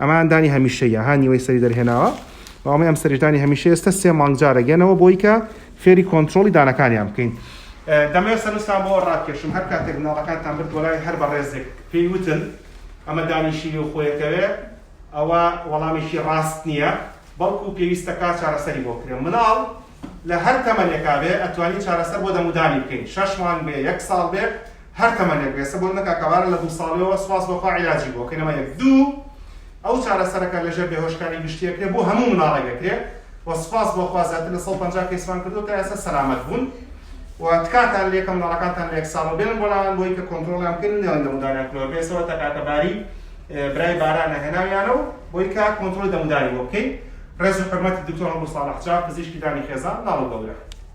ئەمەیان دانی هەمیشەییە ها نیوەی سەری دەرهێناوە و ئەمەی ئەم سەریش دانی هەمیشەیە ئێستە سێ مانگ جارێک یەنەوە بۆی کە فێری کۆنترۆڵی دانەکانیان بکەین. دەمەوێت سەرنجتان بۆوە ڕابکێشم هەر کاتێک مناڵەکانتان برد بۆ لای هەر بەڕێزێک پێی وتن ئەمە دانی شیری و خۆیەکەوێ ئەوە وەڵامێکی ڕاست نییە بەڵکو پێویستە کا چارەسەری بۆ بکرێ مناڵ لە هەر تەمەنێکا بێ ئەتوانی چارەسەر بۆ دەم و دانی بکەین شەش مانگ بێ یەک ساڵ بێ هەر تەمەنێک بێ سەبۆ منە کاکە بارە لە دوو ساڵیەوە سپاس بۆ خوا عیلاجی بۆ کەینەوە یەک دوو ئەو چارەسەرەکە لەژێر بێهۆشکاری گشتی ئەکرێ بۆ هەموو مناڵێک ئەکرێ و سپاس بۆ خوا زیاتر لە سەد و پەنجا کەیسمان کردووە تا ئێستا سەلامەت بوون و تکاتان لێ کە مناڵەکانتان لە یەک ساڵەوە بێنن بۆ لایان بۆی کە کۆنترۆڵیان بکەن و نەیەن دەم و دانیان کلۆر بێ سەبەتە کاکە باری برای بارانە هێناویانەو بۆی کە کۆنترۆڵی دەموداوی بۆ بکەین ڕێز و حورمەتی دکتۆر هەڵۆ ساڵح چاک پزیشکی ددانی خێزان لاڵ و گەورە.